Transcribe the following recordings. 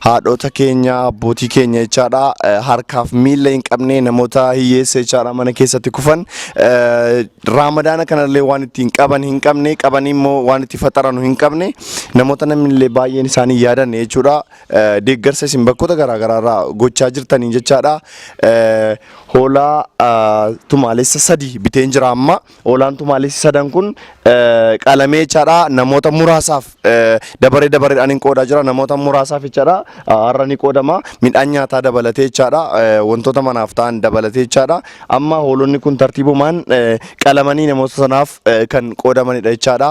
haadhoota keenya abbootii keenya jechaadha harkaaf miila hin qabne namoota hiyyeessa jechaadha mana keessatti kufan raamadaana kanallee waan ittiin qaban hin qabne qabanii immoo waan itti faxaranu hin qabne namoota namnillee baay'een isaanii yaadanne jechuudha deeggarsa isin bakkoota garaagaraarraa gochaa jirtaniin jechaadha hoolaa tumaalessa sadii biteen jira amma Olaantumaalessi sadan kun qalamee jechaadha. Namoota muraasaaf dabaree dabareedhaan hin qoodaa jira. Namoota muraasaaf jechaadha. Har'a ni qoodama. Midhaan nyaataa dabalatee jechaadha. Wantoota manaaf ta'an dabalatee jechaadha. Amma hoolonni kun tartiibumaan qalamanii namoota sanaaf kan qoodamanidha jechaadha.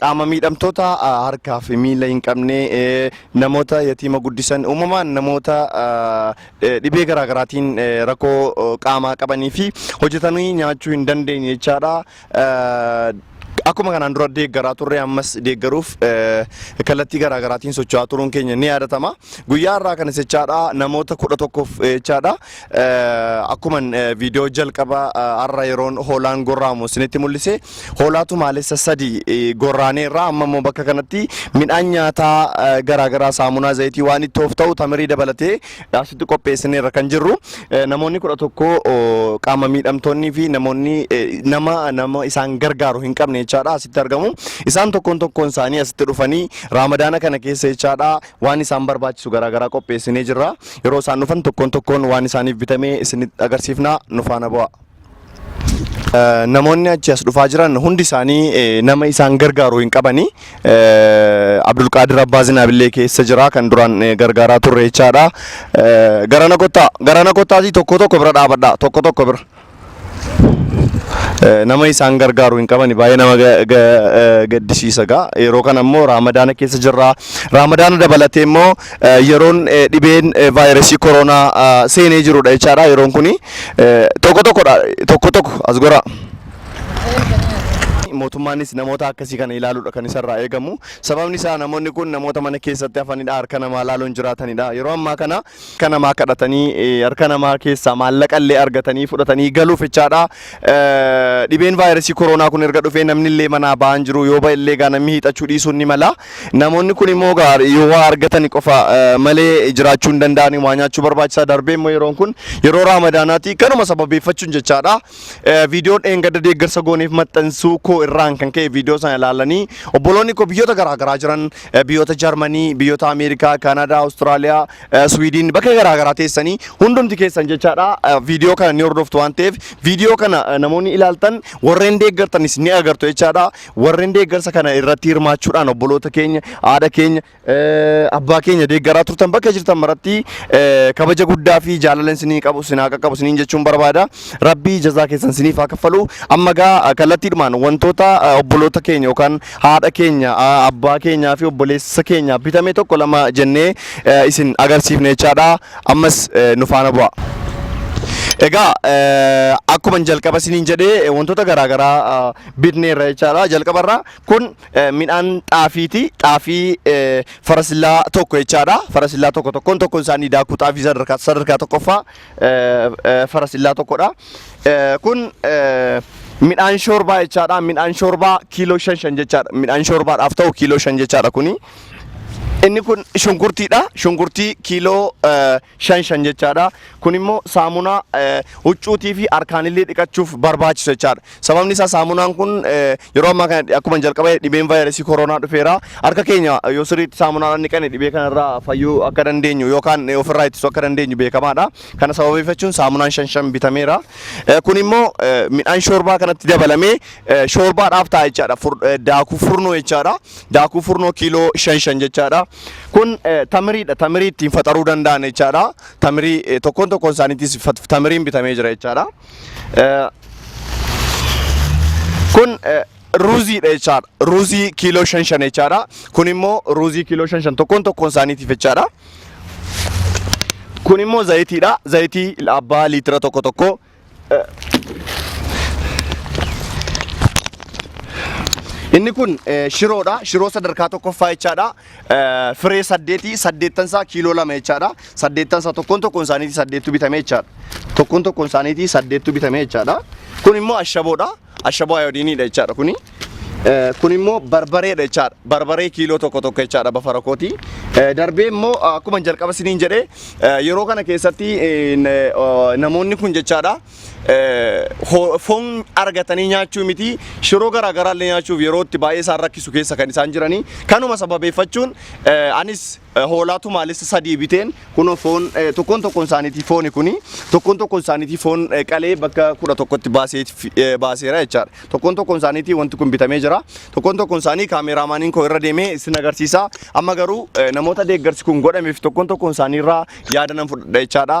Qaama miidhamtoota harkaa fi miila hin qabne, namoota yatiima guddisan, uumamaan namoota dhibee garaa garaatiin rakkoo qaamaa qabanii fi hojjetanii nyaachuu hin dandeenye jechaadha. Akkuma kanaan dura deeggaraa turre ammas deeggaruuf kallattii garaa garaatiin socho'aa turuun keenya ni yaadatama. Guyyaa har'aa kanas jechaadha namoota kudha tokkoof jechaadha Akkuman viidiyoo jalqaba har'a yeroon hoolaan gorraamu isinitti mul'ise hoolaa tumaalessa sadi gorraanee irraa amma immoo bakka kanatti midhaan nyaataa garaagaraa saamunaa zayitii waan ittoof ta'u tamirii dabalatee asitti qopheessinee irra kan jirru namoonni kudha tokko qaama miidhamtoonnii fi namoonni nama nama isaan gargaaru hin qabne jechaadha asitti argamu isaan tokkoon tokkoon isaanii asitti dhufanii raamadaana kana keessa jechaadha Waan isaan barbaachisu garaa garaa qopheessinee jirra. Yeroo isaan dhufan tokkoon tokkoon waan isaaniif bitamee isinitti agarsiifna nu faana bu'aa. Eh, Namoonni achi as dhufaa jiran hundi isaanii eh, nama isaan gargaaru hin qabani. Eh, Abdulqaadir Abbaa Zinaabillee keessa jira kan duraan eh, gargaaraa turre jechaadha. Eh, Garana kottaa garana kottaatii tokko tokko bira dhaabadha tokko tokko bira. nama isaan gargaaru hin qabani baay'ee nama ga- ga- eh, gaddisiisa gaa yeroo kana immoo raamadaana keessa jirra raamadaana dabalatee immoo eh, yeroon eh, dhibeen eh, vaayirasii koronaa ah, seenee jirudha jechaadha yeroon kuni eh, tokko tokkodha tokko tokko as gora mootummaanis namoota akkasii kana ilaaluudha kan isarraa eegamu sababni isaa namoonni kun namoota mana keessatti hafanidha harka namaa ilaaluun jiraatanidha yeroo ammaa kana harka namaa kadhatanii harka namaa keessaa maallaqa illee argatanii fudhatanii galuuf jechaadha. Dhibeen vaayirasii koronaa kun erga dhufee namni illee manaa ba'aa hin jiru yoo ba'e illee gaa namni hiixachuu dhiisuun ni mala. Namoonni kun immoo gaa yoo waa argatan qofa malee jiraachuu hin danda'ani waa nyaachuu barbaachisaa darbee immoo yeroon kun yeroo raamadaanaati kanuma sababeeffachuun jechaadha. Eh, Viidiyoo dheengadda deeggarsa gooneef maxxansuu koo irraan kan ka'e viidiyoo sana ilaalanii obboloonni koo biyyoota garaagaraa jiran eh, biyyoota Jarmanii, biyyoota Ameerikaa, Kaanadaa, Awustiraaliyaa, eh, Swiidin bakka garaagaraa teessanii hundumti keessan jechaadha eh, viidiyoo kana ni hordoftu waan ta'eef viidiyoo kana eh, namoonni ilaaltan warreen deeggartanis ni agartu jechaadha warreen deeggarsa kana irratti hirmaachuudhaan obboloota keenya haadha keenya Abbaa keenya deeggaraa turtan bakka jirtan maratti kabaja guddaa fi jaalala isinii qabu sinaa qaqqabu isiniin jechuun barbaada. Rabbii jazaa keessan isiniif haa kaffalu. Amma gaa kallattiidhumaan wantoota obboloota keenya yookaan haadha keenya abbaa keenyaa fi obboleessa keenya bitame tokko lama jennee isin agarsiifne jechaadha. Ammas nu faana bu'aa. Egaa akkuma jalqaba isiniin jedhee wantoota garaagaraa bitneerra jechaadha. Jalqabarraa kun midhaan xaafiiti. Xaafii farasillaa tokko jechaadha. Farasillaa tokko tokkoon tokkoon isaanii daakuu xaafii sadarkaa sadarkaa tokkoffaa farasillaa tokkodha. Kun midhaan shoorbaa jechaadha. Midhaan shoorbaa kiiloo shan shan jechaadha. Midhaan shoorbaadhaaf ta'u kiiloo shan jechaadha kuni. Inni kun shunkurtiidha. Shunkurtii kiiloo shan shan jechaadha. Kun immoo saamunaa eh, huccuutii fi harkaanillee dhiqachuuf barbaachisu jechaadha. Sababni isaa saamunaan kun eh, yeroo ammaa kana akkuma jalqaba dhibeen vaayirasii koronaa dhufeera. Harka keenya yoo sirriitti saamunaadhaan dhiqanne dhibee kanarraa fayyuu akka dandeenyu yookaan eh, ofirraa ittisuu akka dandeenyu beekamaadha. Kana sababeeffachuun saamunaan shan shan bitameera. Eh, Kun immoo eh, midhaan shoorbaa kanatti dabalamee eh, shoorbaadhaaf ta'a jechaadha. Fur- eh, Daakuu furnoo jechaadha. daakuu furnoo kiiloo shan shan jechaadha. Kun eh, tamiriidha. Tamirii ittiin faxaruu danda'an jechaadha. Tamirii eh, tokkoon tokkoon isaaniitis fat- tamiriin bitamee jira jechaadha. Eh, Kun eh, ruuziidha jechaadha. Ruuzii kiiloo shan shan jechaadha. Kun immoo ruuzii kiiloo shan shan tokkoon tokkoon isaaniitiif jechaadha. Kun immoo zayitiidha. Zayitii abbaa liitira tokko tokko Inni kun eh, shiroodha. Shiroo sadarkaa tokkoffaa jechaadha. Eh, Firee saddeeti saddeettan isaa kiiloo lama jechaadha. Saddeettan isaa tokkoon tokkoon isaaniitii saddeettu bitame jechaadha. Tokkoon tokkoon isaaniitii saddeettu bitame jechaadha. Kun immoo ashaboodha. Ashaboo ayoodiiniidha jechaadha kuni. Kun immoo barbareedha jechaadha. Barbaree kiiloo tokko tokko jechaadha bafara kooti. Darbee immoo akkuma jalqaba isiniin jedhe yeroo kana keessatti namoonni kun jechaadha foon argatanii nyaachuu miti shiroo garaa garaa illee nyaachuuf yeroo itti baay'ee isaan rakkisu keessa kan isaan jiranii kanuma sababeeffachuun anis Eh, Hoolaa tumaalessa sadii biteen kunoo foon eh, tokkoon tokkoon isaaniitii fooni kuni tokkoon tokkoon isaaniitii foon eh, qalee bakka kudha tokkotti baasee fi- eh, baaseera jechaadha. Tokkoon tokkoon isaaniitii wanti kun bitamee jira. Tokkoon tokkoon isaanii kaameeraamaaniin koo irra deemee isin agarsiisa. Amma garuu eh, namoota deeggarsi kun godhameef tokkoon tokkoon isaanii irraa yaada nan fudhadha jechaadha.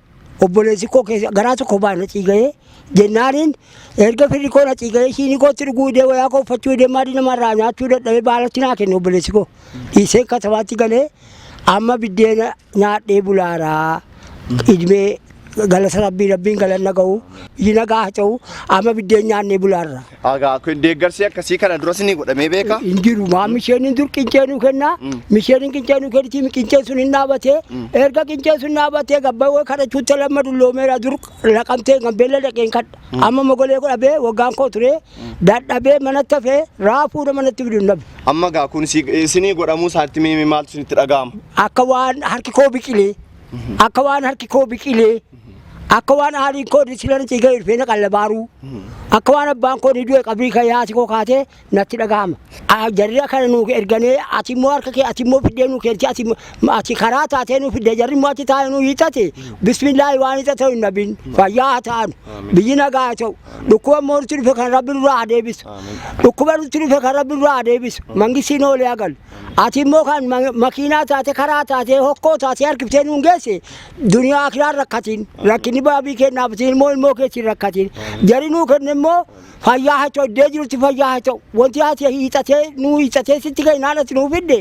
obboleessi koo keessa garaa tokko baa na ciigayee jennaaniin erga firri koo na ciigayee shiinii kootti dhuguu idee wayaa koo uffachuu idee maadii namarraa nyaachuu dadhabee baalatti naa kenne obboleessi koo dhiisee katabaatti galee amma biddeena nyaadhee bulaaraa idmee galata rabbii rabbiin galanna ga'u iji nagaa haa ta'u amma biddeen nyaannee bulaarra. Agaa kun deeggarsi akkasii kana duras ni godhamee beeka. hin jiru maa misheen dur qincee nu kenna Mm. misheen qincee nu kenniti qincee sun hin dhaabatee Mm. erga qincee sun dhaabatee gabbawee kadhachuutti lamma dulloomeera dur laqamtee kan beella dhaqeen kadha amma mogolee godhabee waggaan koo ture dadhabee manatti hafee raafuu nama natti fidu hin dhabe Amma gaa kun si- isinii godhamuu isaatti mee maaltu isinitti dhaga'ama? akka waan harki koo biqilee akka waan harki koo biqilee Akka waan haadhiin koo disila na ciigee ilfeena qallabaaruu. Akka waan abbaan koo ni du'e qabrii kan yaasi koo kaatee natti dhagahama. Ah, Jarri akkana nuu erganee ati immoo harka kee ati immoo fiddee nuu kennite ati immoo- ati karaa taatee nuu fiddee jarri immoo achi taa'ee nuu hiixate bismillaahi waan hiixa ta'u hin dhabin fayyaa haa ta'an biyyi nagaa haa ta'u dhukkuba immoo nutti dhufe kan rabbi nurraa haa deebisu dhukkuba nutti dhufe kan rabbi nurraa haa deebisu mangisiin oolee haa galu. Ati immoo kan ma- makiinaa taate karaa taate hokkoo taate harkiftee nuun geesse Duniyaa akiraan rakkatiin rakkinni baabii kennaaf isin immoo ilmoo keessi rakkatiin jari nuu kenne immoo fayyaa haa ta'u iddee jirutti fayyaa haa ta'u wanti ati hiixatee nuu hiixatee sitti ka'e naan ati nuu fidde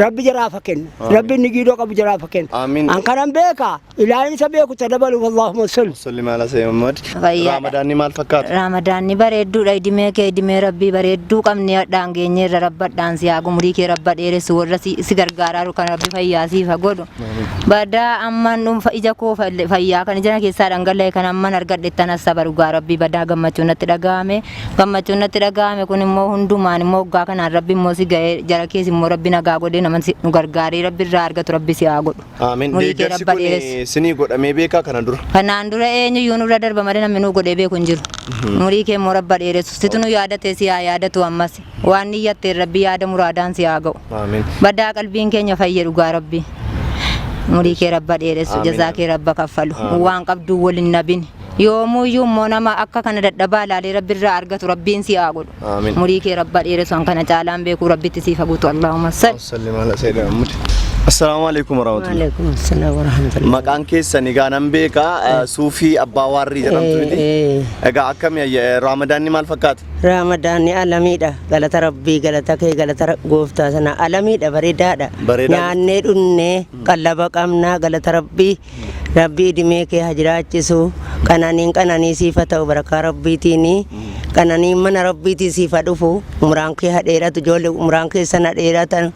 rabbi jaraafa kennu rabbi inni giidoo qabu jaraafa kennu Amiin. an kanan beeka ilaahin isa beeku ta dabaluuf allahumma salli. Salli maala Sayyid Muhammad. Fayyaadha. Raamadaanni maal fakkaata? Raamadaanni bareedduudha idimee kee idimee rabbii bareedduu qabnee hadhaan geenyeerra rabbadhaan si haa gumurii kee rabba dheeressu warra si si gargaaraaru kan rabbi fayyaa siif haa godhu Badaa amman dhuunfa ija koo fayyaa kan ijana keessaa dhangala'e kan amman argadhettan hassaba dhugaa rabbii badaa gammachuun natti dhaga'ame gammachuun natti dhaga'ame kun immoo hundumaan immoo hoggaa kanaan rabbi immoo si ga'ee jara kees immoo rabbi nagaa godhee nama si- nu gargaaree rabbi irraa argatu rabbi si haa godhu. Amen. Umurii kee Deeggarsi rabba kun dheeressu. isinii godhamee beekaa kana dura. Kanaan dura eenyuyyuu nurra darba malee namni nuu godhee beeku hin jiru. Umurii kee immoo rabba dheeressu. Situ nu yaadatee si haa yaadatu ammas. Waan niyyatteen rabbi yaada muraadaan si haa ga'u. Aamiin. Badaa qalbiin keenya fayye dhugaa rabbi. Umurii kee rabba dheeressu Amiin. jazaa kee rabba kaffalu Amiin. waan qabduu wal hin nabin yoomuyyuu immoo nama akka kana dadhabaa ilaalee rabbi irraa argatu rabbiin si haa godhu. Amiin. Umurii kee rabba dheeressu an kana caalaan beekuu rabbitti siif haguutu Allahumma sal. Salli maala seeda ammudi. Assalaamu alaikum warahmatullahi. Waalaikum assalam warahmatullahi. Maqaan keessan egaa nan beeka eh, suufii abbaa waarrii jedhamtu miti. Eh, eh. Egaa akkami ayya- eh, raamadaanni maal fakkaata? Raamadaanni alamiidha galata rabbii galata kee galata ra- gooftaa sana alamiidha bareedaadha Bareedaa. nyaannee dhunnee qallaba qabnaa galata rabbii rabbii idimee kee haa jiraachisu qananiin qananii siif haa ta'u barakaa rabbiitiin qananiin mana rabbiitiin siif haa dhufu umraan kee haa dheeratu ijoollee umraan keessan haa dheeratan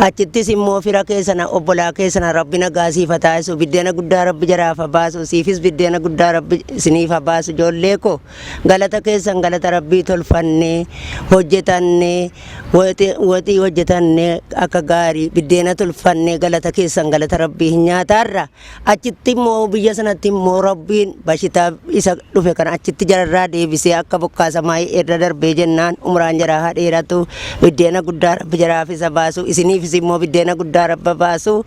achittis immoo fira keessana obbolaa keessana rabbi nagaa siif haa taasisu biddeena guddaa rabbi jaraaf haa baasu siifis biddeena guddaa rabbi isiniif haa baasu ijoollee koo Galata keessan galata rabbii tolfanne hojjetanne waxi- waxii hojjetanne akka gaarii biddeena tolfanne galata keessan galata rabbii hin nyaataarra achitti immoo biyya sanatti immoo rabbiin bashitaa isa dhufe kana achitti jararraa deebisee akka bokkaa samaayii irra darbee jennaan umraan jaraa haa dheeratu biddeena guddaa rabbi jaraaf isa baasu isiniifis immoo biddeena guddaa rabba baasu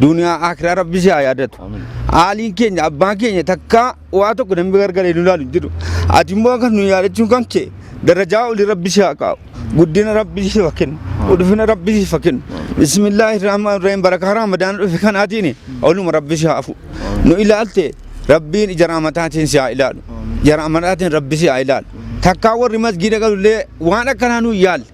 Duniyaa akiraa rabbi si haa yaadatu. Haaliin keenya abbaan keenya takkaa waa tokko namni gargaree nu ilaalu hin jiru. Ati immoo kan nu yaadachuun kan kee darajaa olii rabbi si haa kaa'u. Guddina rabbi si haa kennu. Ulfina rabbi si haa kennu. Bismillaahi rahmaan rahim barakaa ramadaan dhufe kanaatiin oluma rabbi si haa fu'u. Nu ilaalte rabbiin ija raamataatiin si haa ilaalu. Ija raamataatiin rabbi si haa ilaalu. Takkaa warri masgiida galullee waan akkanaa nu hin yaalle.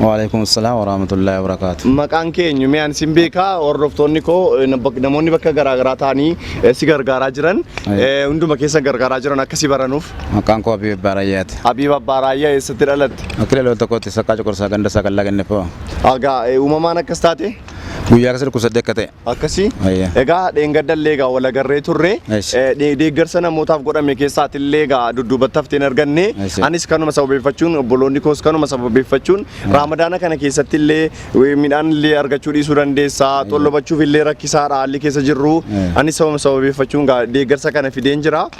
Waalaikum assalam warahmatullahi wabarakatuh. Maqaan kee eenyu? Mee ani sin beekaa hordoftoonni koo eh, na- bak- namoonni bakka garaa garaa ta'anii eh, si gargaaraa jiran Aye. eh, hunduma keessa gargaaraa jiran akka si baranuuf. Maqaan koo Abiib Baarayyaati. Habiib Abbaa Raayyaa eessatti dhalatte? Akka ilaaloo tokkotti saqqaa cuqursaa ganda isaa kan laganne fa'aa. Egaa eh, uumamaan akkas taate? Guyyaa keessa dhukkubsadde akka ta'e. Akkasii Ayya. egaa dheengaddallee egaa wal agarree turre Yes. Eh, de- deeggarsa namootaaf godhame keessaatillee egaa dudduubatti haftee hin arganne Yes. anis kanuma sababeeffachuun obboloonni koos kanuma sababeeffachuun raamadaana kana keessatti illee eh, midhaan illee argachuu dhiisuu dandeessa tollobachuuf illee rakkisaadha haalli keessa jirru Yeah. anis sababa sababeeffachuun egaa deeggarsa kana fideen jira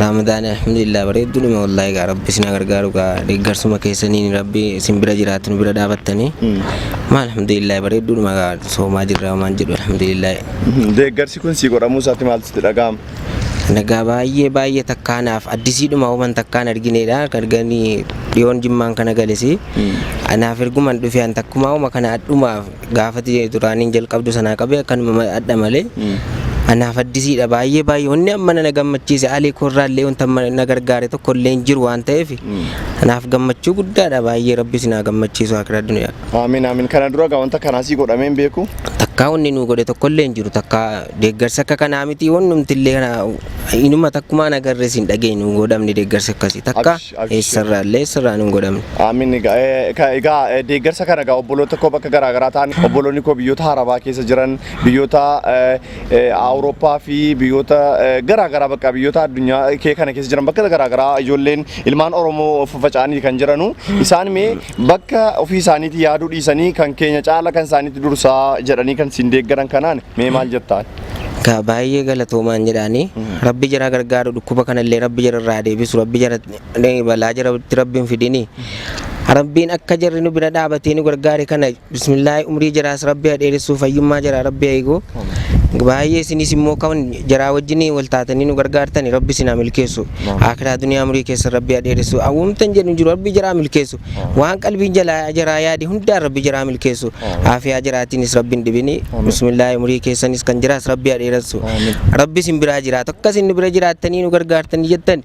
Raamadaani alhamdulillah bareedduudhuma wallahi gaa rabbi isin haa gargaaru gaa deeggarsuma keessaniin rabbi isin bira jiraatu nu bira dhaabattanii maa alhamdulillah bareedduudhuma gaa soomaa jirra waan jedhu alhamdulillah Deeggarsi kun sii godhamuu isaatti maaltu sitti dhaga'ama? nagaa baay'ee baay'ee takkaanaaf addisiidhuma huban takkaan argineedha arganii dhiyoon jimmaan kana galesi anaaf erguman dhufe an takkumaa huma kana adhumaaf gaafati duraaniin jalqabdu sanaa qabee akkanuma adda malee anaaf addisiidha baay'ee baay'ee wanni amma na gammachiise alii koorraallee wanta amma na gargaare tokko illee hin jiru waan ta'eef anaaf gammachuu guddaadha baay'ee rabbi sinaa gammachiisu akira duniyaa Aamin aamin kana dura gaa wanta kanaa sii godhamee hin beeku. takkaa wanni nu godhe tokko illee hin jiru takkaa deeggarsa akka kanaa miti wannumti illee kana inuma takkumaa nagarrees hin dhageenyu godhamni deeggarsa akkasii takka. Eessarraallee sirraan hin godhamne. Aamin egaa eh, ka- egaa eh, deeggarsa kana egaa obboloota koo bakka garaa garaa ta'an obboloonni koo biyyoota harabaa keessa jiran biyyoota eh, eh, awurooppaa fi biyyoota eh, garaa garaa bakka biyyoota addunyaa kee kana keessa jiran bakka garaa garaa ijoolleen ilmaan oromoo faffaca'anii kan jiranu isaan mee Bakka ofii isaaniitii yaaduu dhiisanii kan keenya caala kan isaaniitti dursaa jedhanii kan siin deeggaran kanaan mee maal jettaan? Gaa baay'ee galatoomaan jedhaani. Rabbi jara gargaaru dhukkuba kanallee rabbi jara irraa deebisu rabbi jara balaa jara rabbi hin fidini. Rabbiin akka jarri nu bira dhaabatee nu gargaare kana Bismillaahi umrii jaraas rabbi ha dheeressuu fayyummaa jaraa rabbi ha eegu baay'ee isinis immoo kan jaraa wajjin wal taatanii nu gargaartani rabbi isin haa milkeessu akiraa duniyaa umrii keessa rabbi ha dheeressu awwamtan jedhu jiru rabbi jaraa milkeessu waan qalbiin jalaa jaraa yaade hundaan rabbi jaraa milkeessu aafiyaa jaraatiinis rabbi hin dhibini bismillaahi umrii keessanis kan jiraas rabbi ha dheeressu rabbi isin biraa jiraatu akka isin nu bira jiraattanii nu gargaartanii jettan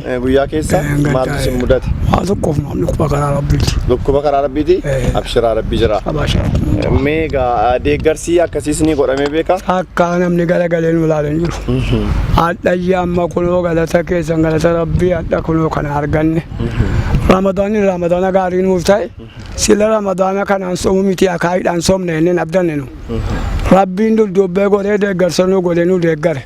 Eh, Guyyaa keessa Eh, gaddaa, maaltu isin eh. mudate? Waa tokkoof maal dhukkuba karaa rabbiiti. Dhukkuba karaa rabbiiti? Eh. Abshiraa rabbi jira. Abaashaa dhukkuba. Meegaa deeggarsi akkasiis ni godhamee beeka? Akka namni galagalee nu ilaalee hin jiru. Hadhayyi amma kunoo galata keessan galata rabbii hadha kunoo kana arganne. Ramadaanni ramadaana gaarii nuuf ta'e sila ramadaana kanaan somu miti akaayiidhaan somne inni hin abdanne nu. Rabbiin dudduubbee godhee deeggarsa nu godhee nu deeggare.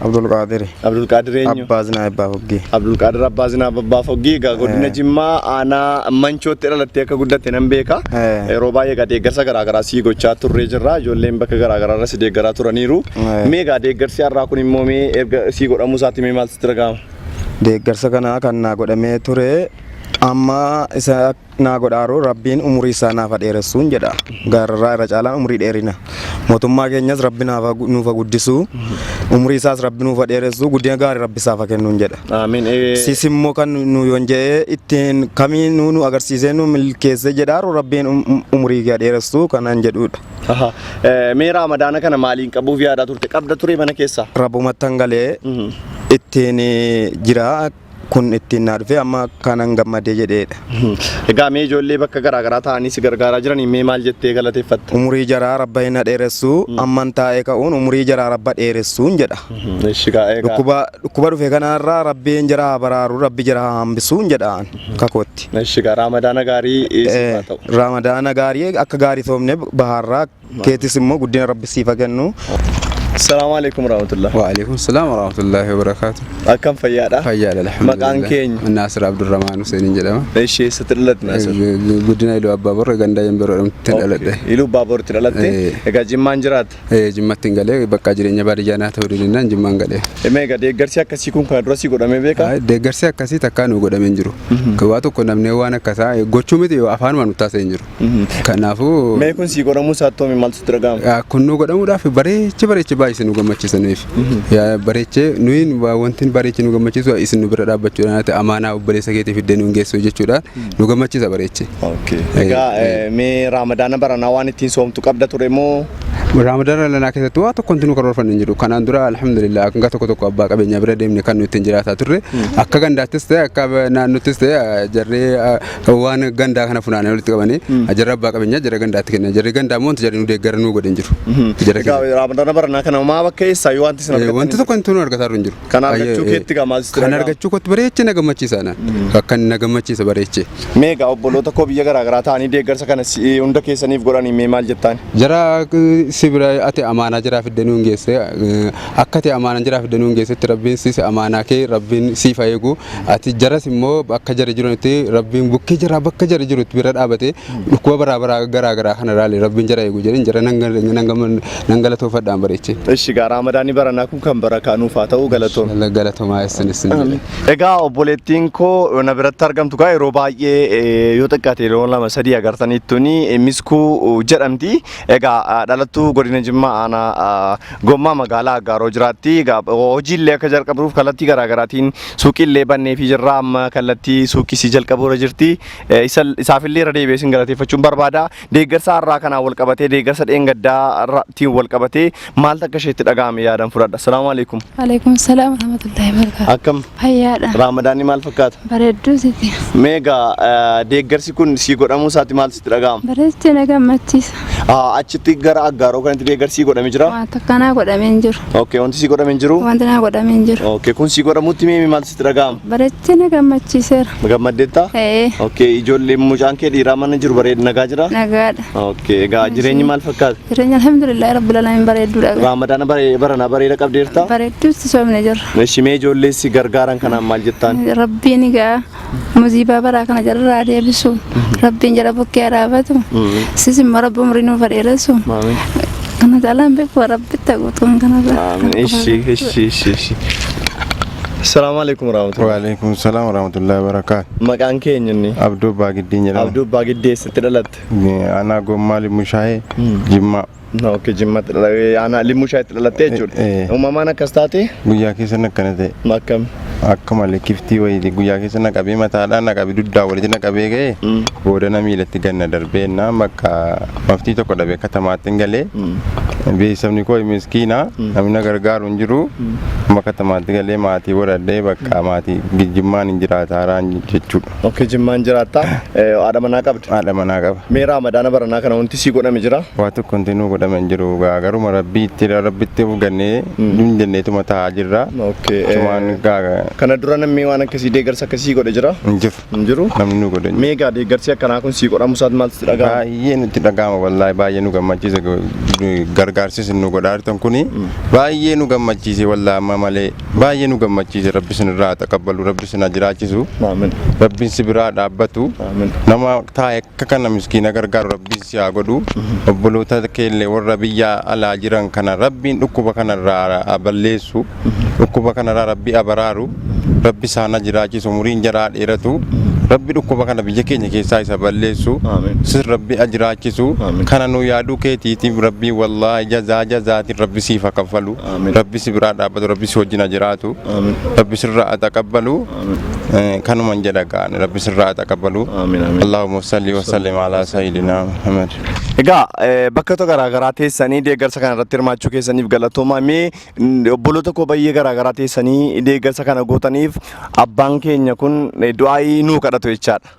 Abdul Qaadiri. Abdul Qaadir eenyu? Abbaa Zinaa Abbaa Foggii. Abdul Qaadir Abbaa Zinaa Abbaa Foggii egaa godina Eh. Jimmaa aanaa Manchootti dhalattee akka guddatte nan beeka. Eh. Yeroo baay'ee egaa deeggarsa garaagaraa sii gochaa turree jirra. Ijoolleen bakka garaagaraa irra si deeggaraa turaniiru. Eh. Mee egaa deeggarsi har'aa kun immoo mee erga sii godhamuu isaatti mee maal sitti dhaga'ama? Deeggarsa kana kan naa godhamee ture amma isa naa godhaaruu rabbiin umurii isaa naaf ha dheeressuun jedha gaararraa irra caalaan umurii dheerina mootummaa keenyas rabbi naaf ha- nuuf ha guddisu umurii isaas rabbi nuuf ha dheeressu guddina gaarii rabbi isaaf ha kennuun jedha Aamiin. Ee, sis immoo kan nu yoon jedhee ittiin kamii nu nu agarsiisee nu milkeessee jedhaaru rabbiin um- um- umurii kee ha dheeressu kanaan jedhuudha aha. Ee, Mee raamadaana kana maaliin qabuuf yaadaa turte? Qabda ture mana keessaa? rabbumattan galee Mhm. ittiin eh, jira kun ittiin naa dhufee amma kanan gammadee jedheedha. Egaa mee ijoollee bakka garaa garaa taa'anii si gargaaraa jiraniin mee maal jettee galateeffatta? Umurii jaraa rabba hin dheeressuu amman taa'ee ka'uun umurii jaraa rabba dheeressuun jedha. Eshi gaa egaa. Dhukkuba dhukkuba dhufe kanarraa rabbiin jara haa baraaru rabbi jara haa hambisuun jedhaan kakootti. Eshi gaa raamadaana gaarii siif haa ta'u. Raamadaana gaarii akka gaarii soomne bahaarraa Keetis immoo guddina rabbi siif haa kennu. Salaamu alaikum warahmatullah. Waalaikum salaam warahmatullahi wabarakaatu. Akkam fayyaadha? Fayyaadha alhamdulillah. Maqaan keenya? Naasir Abdurrahmaan Huseeniin jedhama. Ishee eessatti dhalatte Naasir? Guddina Iluu Abbaa Borra gandaa Yemberoo jedhamtutti dhaladhe. Iluu Abbaa Borratti dhalatte? Ee. Egaa Jimmaan jiraatta? Eh, Jimmatti hin galee bakka jireenya baadiyyaa naa ta'uu didinaan Jimmaan galee. Mee egaa deeggarsi akkasii kun kana dura si godhamee beekaa? Ay, Deeggarsi akkasii takkaa nu godhamee hin jiru. Waa tokko namni waan akkasaa eh, gochuu miti yoo afaanuma nu taasisee hin jiru. Kanaafuu Mee kun sii godhamuu isaa attoomi maaltu sitti dhaga'ama? ah, kun nu godhamuudhaaf bareechi bareechi baay'ise nu gammachiisaniif Yaa, bareechi nuyi wa- wanti bareechi nu gammachiisu isin nu bira dhaabbachuudhaan ati amaanaa obboleessa keetii fiddee nu hin geessu jechuudhaan nu gammachiisa bareechi. Okay. Eh, Egaa eh. eh, mee raamadaana baranaa waan ittiin soomtu qabda ture moo? Raamadaana lanaa keessatti waa tokko nu karoorfanne hin jiru. Kanaan dura alhamdulillah hanga tokko tokko abbaa qabeenyaa bira deemne kan nuti ittiin jiraataa turre. Akka gandaattis ta'e akka naannottis ta'e jarree waan gandaa kana funaanee walitti qabanii jarri abbaa qabeenyaa jarri gandaatti kennan jarri gandaa immoo wanti jarri nu deeggaran nu godhan jiru. Jara Egaa keenya. Ramadana baranaa kana maa bakka eessaa yoo wanti isin Eh, argattan Wanti tokko wanti nu argataa hin jiru. Kan argachuu Eh, keetti gamaa sitti Kan dhaga'ama. argachuu kootti bareechee na gammachiisa naan. Akka na gammachiisa bareechee. Meega obboloota koo biyya garaa garaa ta'anii deeggarsa kana si- hunda keessaniif godhanii mee maal jettaan? Jara eh, si bira ati amaanaa jiraa fiddee nu hin geesse. eh, Akkati amaanan jaraaf danuun geessetti rabbiin sis amaanaa kee rabbiin siif haa eegu ati jaras immoo akka jari jiranitti rabbiin bukkee jaraa bakka jari jirutti bira dhaabate dhukkuba baraa baraa garaa garaa kana raale rabbiin jara eegu jedhin jara nan galatoofadhaan bareechi. Ishi gaa raamadaanni baranaa kun kan barakaa nuuf haa ta'u galatoom. Galatomaa issin issin jedhe. Egaa obboleettiin koo na biratti argamtu gaa yeroo baay'ee eh, yoo xiqqaate yeroo lama sadii agartaniittuni eh, miskuu jedhamti. Egaa ah, dhalattuu godina Jimmaa aanaa ah, Gommaa magaalaa Aggaaroo jiraatti. Hojiillee akka jalqabruuf kallattii garaagaraatiin suuqiillee banneefii jirra. Amma kallattii suuqisii jalqabuurra jirti. Isaafillee irra deebi'ee isin galateeffachuun barbaada. Deeggarsa har'aa kanaan wal qabatee deeggarsa dheengaddaarraatiin wal qabatee maaltu akka isheetti dhaga'ame yaadan fudhadha. Salaamu alaikum. Alaikum salaam rahmatullahi barakatuh. Akkam Fayyaadha. Raamadaanni maal fakkaata? Bareedduu sitti. Meegaa eh, deeggarsi kun sii godhamuu isaatti maal sitti dhaga'ama? Bareedduu na gammachiisa. Ah, Achitti gara aggaaroo kanatti deeggarsi godhame jira? Wanta kanaa godhamee hin jiru. Okay, wanti sii godhame hin jiru? Wanti naa godhamee hin jiru. Okay, kun sii godhamutti meemi maal sitti dhaga'ama? Bareedduu na gammachiiseera. Gammaddeetta? Ee, Okay, ijoollee mucaan kee dhiiraa mana jiru bareeda nagaa jira? nagaadha. Okay, egaa jireenyi maal fakkaata? Jireenya alhamdulillah rabbil alamin bareedduudha. Raamadaana bare- barana bareeda qabdeerta? Bareedduutti soomne jirra. Eshi mee ijoollee si gargaaran kanaan maal jettaan? Rabbiin egaa musiibaa baraa kana jalaa deebisu. Rabbiin jala bukkee araabatu. Sis immoo rabbi umrii nuuf dheeressu. Maamiin. Kana caalaan beeku rabbitti haguutuun kanarra. Maamiin. Eshi, eshi, eshi, eshi. Salaamu alaikum warahmatullahi. Waalaikum salaam warahmatullahi wabarakaatu. Maqaan keenya inni? Abdoo Baagiddii jedhama. Abduu Abbaa Giddee eessatti dhalatte? dhalatte? Aanaa Gommaa Limmushaayee Jimmaa. Ok, Jimmatti dhalatte. Aanaa Limmushaayitti dhalattee jechuudha. Eh, eh. Uumamaan akkas taate Guyyaa keessan akkana ta'e. akkam? Akka malee kiftii wayii guyyaa keessa na qabee mataadhaa na qabee dugdaa walitti na qabee ga'e booda na miilatti ganna darbee na bakka maftii tokko dhabee katamaatti hin galee beeksifni koo miskiina namni na gargaaru hin jiru amma katamaatti galee maatii godhadhee bakka maatii gijjimmaan hin jiraataaraan jechuudha. Okay, jimmaan jiraatta. Eh, Haadha manaa qabda. haadha manaa qaba. Mee raamadaana baranaa kana wanti sii godhame jira? Waa tokko wanti nuu godhame hin jiru gaa garuma rabbiitti rabbitti of gannee hin jenneetuma taa'aa jirra. Okay, eh, Sumaan gaa Kana dura namni waan akkasii deeggarsa akkasii godhe jira? hin jiru. Hin jiru? Namni nuu godhe hin jiru. Mee egaa deeggarsi akkanaa kun sii godhamu isaatti maaltu sitti dhaga'ama? Baay'ee nutti dhaga'ama wallaahi baay'ee nu gammachiisa gargaarsis nu godhaa jirtan kuni baay'ee nu gammachiise wallaahi amma malee Baay'ee nu gammachiise rabbi sinirraa haa taqabbalu rabbi sin haa jiraachisu Aamin. rabbiin si biraa dhaabbatu Aamin. nama taa'e akka kana miskiina gargaaru rabbiin si haa godhu obboloota keellee warra biyya alaa jiran kana rabbiin dhukkuba kanarraa haa balleessu dhukkuba kanarraa rabbi abaraaru rabbi isaan haa jiraachisu umuriin jaraa haa dheeratu rabbi dhukkuba kana biyya keenya keessaa isa balleessu Aamin. sin rabbi haa jiraachisu Aamin. kana nu yaaduu keetiitiif rabbii wallaahi jazaa jazaatiin rabbi siif haa kaffalu. Rabbi si biraa dhaabbatu rabbi si wajjin ajiraatu rabbi sirraa ataqabbalu kanuman jedha gaani rabbi sirraa ataqabbalu Allahumma salli wa sallim ala sayyidina Muhammad. Egaa bakkoota garaagaraa teessanii deeggarsa kana irratti hirmaachuu keessaniif galatoomaa mee obboloota koo baay'ee garaagaraa teessanii deeggarsa kana gootaniif abbaan keenya kun du'aayii nuu kadhatu jechaadha.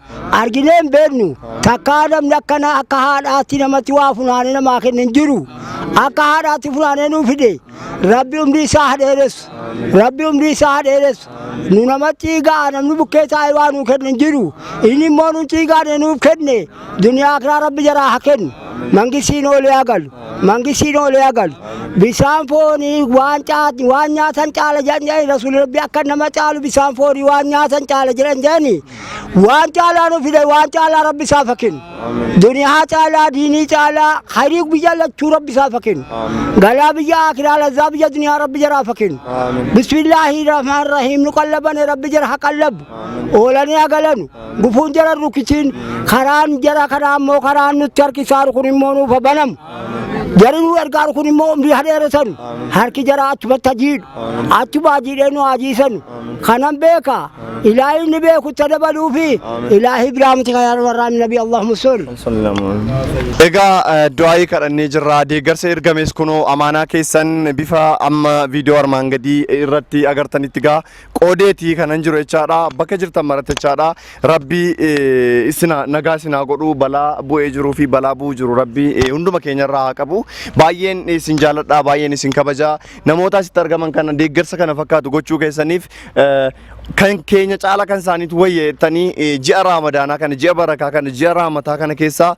arginee hin beeknu takkaa namni akkanaa akka haadhaatti namatti waa funaanee namaa kenne hin jiru akka haadhaatti funaanee nuu fide rabbi umrii isaa haa dheeressu rabbi umrii isaa haa dheeressu nu namatti egaa namni bukkee taa'ee waa nuu kenne hin jiru inni immoo nutti egaanee nuuf kenne duniyaa kiraa rabbi jaraa haa kennu mangisiin oolee haa galu mangisiin oolee haa galu bisaan foonii waan caati waan nyaatan caala jedhan jedhani rasuulli rabbi akka nama caalu bisaan foonii waan nyaatan caala jedhan jedhani waan caalaa nu fide waan caalaa rabbi isaaf haa kennu duniyaa caalaa diinii caalaa hayrii biyya lachuu rabbi isaaf haa kennu galaa biyya akiraa lazaa biyya duniyaa rabbi jaraaf haa kennu bismillaahi rahmaan rahiim nu qallabane rabbi jara haa qallabu oolanii haa galanu gufuun jara rukitiin karaan jara kanaa immoo karaan nutti harkisaaru kun immoo nuuf haa banamu Jarri nu gargaaru kun immoo umrii haa dheeressanu. Harki jaraa achumatti haa jiidhu. Achuma haa jiidhee nu haa jiisanu. Kanan beeka. Ilaahi inni beeku itti dabaluu fi ilaahi biraa miti kan warraa nabi Allahumma salli. Egaa eh, du'aayii kadhannee jirra. Deeggarsa ergames kunoo amaanaa keessan bifa amma viidiyoo armaan gadii irratti agartanitti gaa qoodeeti kanan jiru jechaadha bakka jirtan maratti jechaadha rabbii eh, isina nagaa isinaa godhu balaa bu'ee jiruu fi balaa bu'uu jiru rabbii eh, hunduma keenyarraa haa qabu baay'een isin jaaladha baay'een isin kabaja namoota asitti argaman kana deeggarsa kana fakkaatu gochuu keessaniif eh, kan keenya caala kan isaaniitu wayyeettanii eh, ji'a raamadaanaa kana ji'a barakaa kana ji'a raamataa kana keessaa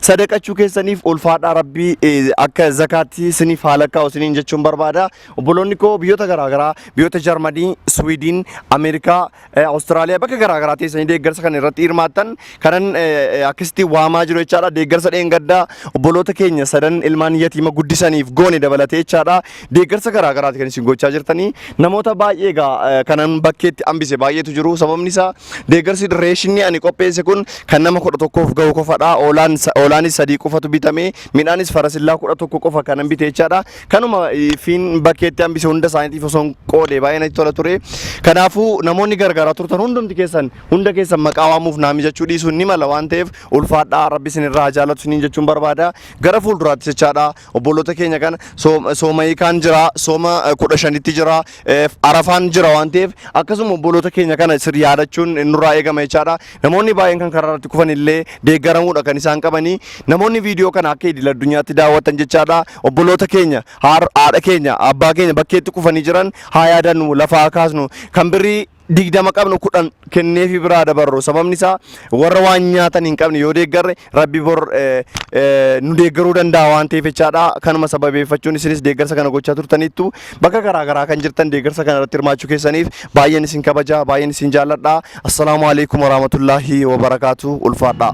sadaqachuu keessaniif ulfaadhaa rabbii eh, akka zakaatti isiniif haalakkaa isiniin jechuun barbaada Obboloonni koo biyyoota garaagaraa biyyoota Jarmanii, Swiidin, Ameerikaa, eh, Awustiraaliyaa bakka garaagaraa teessanii deeggarsa kana irratti hirmaattan kanan eh, akkasitti waamaa jiru jechaadha. Deeggarsa dheengaddaa obboloota keenya sadan ilmaan yatiima guddisaniif goone dabalatee jechaadha. Deeggarsa garaagaraati kan isin gochaa jirtanii namoota baay'ee egaa eh, kanan bakkeetti hambise baay'eetu jiru. Sababni isaa deeggarsi reeshinni ani qopheesse kun kan nama kudha tokkoof ga'u qofadha. Oolaan sa- Oolaanis sadii qofatu bitame. Midhaanis farasillaa kudha tokko qofa kanan bite jechaadha. Kanuma fiin bakkeetti hambise hunda isaaniitiif osoo hin qoode baay'ee natti tola ture. Kanaafuu namoonni gargaaraa turtan hundumti keessan hunda keessan maqaa waamuuf naa mijachuu dhiisuun ni mala waan ta'eef ulfaadhaa rabbi isin irraa haa jaallatu isiniin jechuun barbaada. Gara fuulduraatti jechaadha obboloota keenya kana soom- sooma hiikaan jira sooma eh, kudha shanitti jira Eh, arafaan jira waan ta'eef akkasuma obboloota keenya kana sir yaadachuun nurraa eegama jechaadha namoonni baay'een kan karaa irratti kufan illee deeggaramuudha kan isaan qabanii namoonni viidiyoo kana akka idil addunyaatti daawwatan jechaadha obboloota keenya haar- haadha keenya abbaa keenya bakkeetti kufanii jiran haa yaadannu lafaa kaasnu kan birrii digdama qabnu kudhan kenneefi biraa dabarru sababni isaa warra waan nyaatan hin qabne yoo deeggarre rabbi bor eh, eh, nu deeggaruu danda'a waan ta'eef jechaadha kanuma sababeeffachuun isinis deeggarsa kana gochaa turtaniittu bakka garaa garaa kan jirtan deeggarsa kana irratti hirmaachuu keessaniif baay'een isin kabaja baay'een isin jaalladha assalaamu alaikum warahmatullaahi wabarakaatu ulfaadhaa